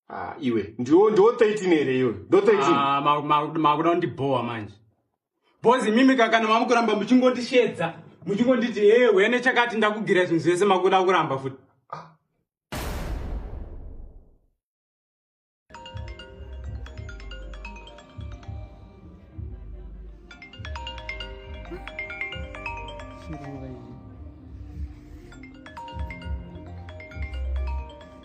ah, iwe ndiwo ndiwo 13 here iyoyo ndo 13 Ah, ma- ma- makuda kundibhowa manje bhozi mimi kakana mamukuramba muchingondisheedza muchingonditi hee wene chakati ndakugira zvinhu zvese makuda kuramba futi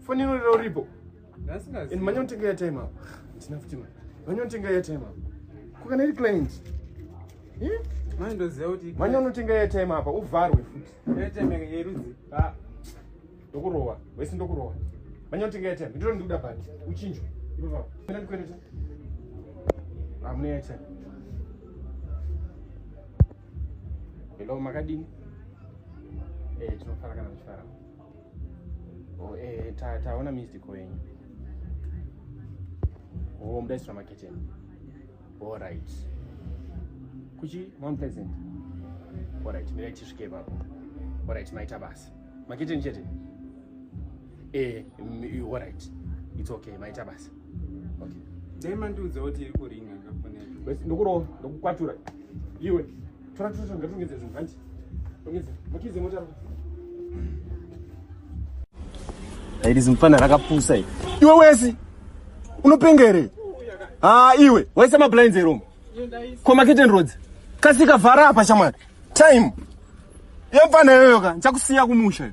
foni inorira uripo and manya unotenga ya time apo ndina futi ma manya unotenga ya time apo kukana iri client eh? manya unotenga ya time apa uvharwe futi ah. ndokurowa wese ndokurowa manya unotenga ya time ndiro ndikuda bhati uchinjwa ipapapo ena ndikwereta hamuna ah, ya time hello makadini eh, tinofarakana zvifarama Oh, eh, ta, taona missed call yenyu. Oh, mdai sura maketeni. All right. Kuchi Mount Pleasant. All right, mira chisvike ipapo. All right, maita basa. Maketeni chete. Eh, mm, all right. It's okay, maita basa. dai mandiudza kuti iri kuringa ndokurova ndokukwatura iwe tora tora ngatongedze zvinhu hanti ongedze makize motaro iri zimufana rakapusa i iwe wesi unopenga here ha iwe waisa mablinds eromo ko maketen roads kasika vhara apa shamwari time yemfana iyoyoka ndichakusiya kumusha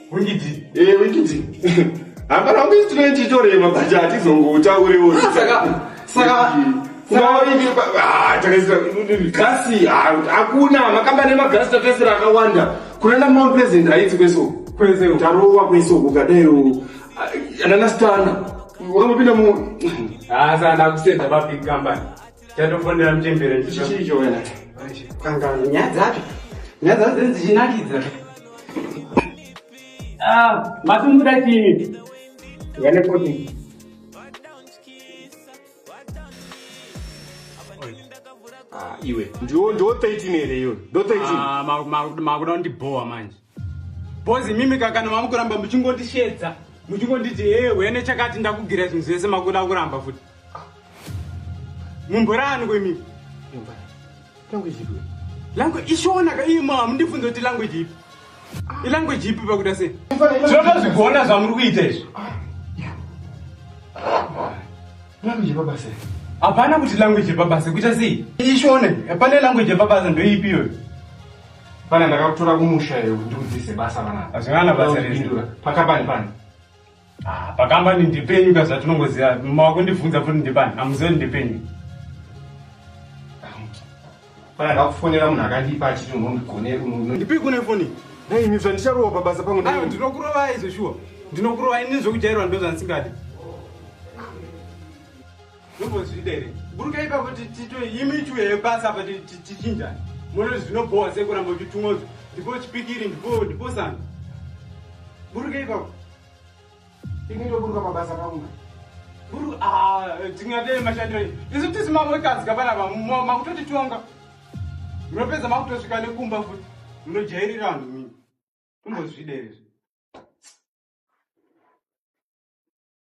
wikidzi ee eh, wikidzi hapana kuti tinoititore mabhaja hatizongoutaurewo saka saka gasi hakuna makamba nemagasi takaisira akawanda kunana mount president haiti kweso tarowa kweso ukadairo anana stana wangopinda mu hasa ndakusenda mabig company Chatofonera mchembere chicho chicho wena. Kanga nyaya dzacho. Nyaya dzacho dzinenge dzichinakidza. Ah, matumbuda chini? Vane koti. Ah, iwe. Ndiwo ndiwo 13 here iwe. Ndo 13. Ah, makuda kundibhowa manje. Bozi mimi kakana mamukuramba muchingondishedza muchingonditi hee wene chakati ndakugira zvinhu zvese makuda kuramba futi mumboraaniko imimi langu ishonaka iye ma hamundifunza kuti langu jipi ilangu jipi pakuda sei zvinoda zvigona zvamuri kuita izvi hapana kuti language yepabasa kuita sei ishone pane language yepabasa ndoipi iyoyo Pana ndakakutora kumusha iwe kuti ndikudzidzise basa vana. Hazvingana basa rezvindura. Pakambani pani? Ah, pakambani ndipenyu ka zvatinongoziva. Makundibvunza futi ndipani. Amuzive ndipenyu. Pana ndakufonera munhu akandipa achiti unondigonera unono. Ndipi kune foni? Nei imi zvandicharowa pabasa pangu ndai. Ayo ndinokurovai zveshuwa. Ndinokurovai nezvekujairwa ndozvandisingadi. mumbozvida here buruka ipapo tito imi tiwe yebasa apa tichinjani mono zvinobhowa sei kuramba uchitumozvo ndipo chipikiri ndipo ndipo sana buruka ipapo inotoburuka mabasa paunga buru ah, tingadei mashandiro isu tisi mavotazika panapa makutotitonga munopedza makutosvika nekumba futi munojairira vanhu mii mumbozvida here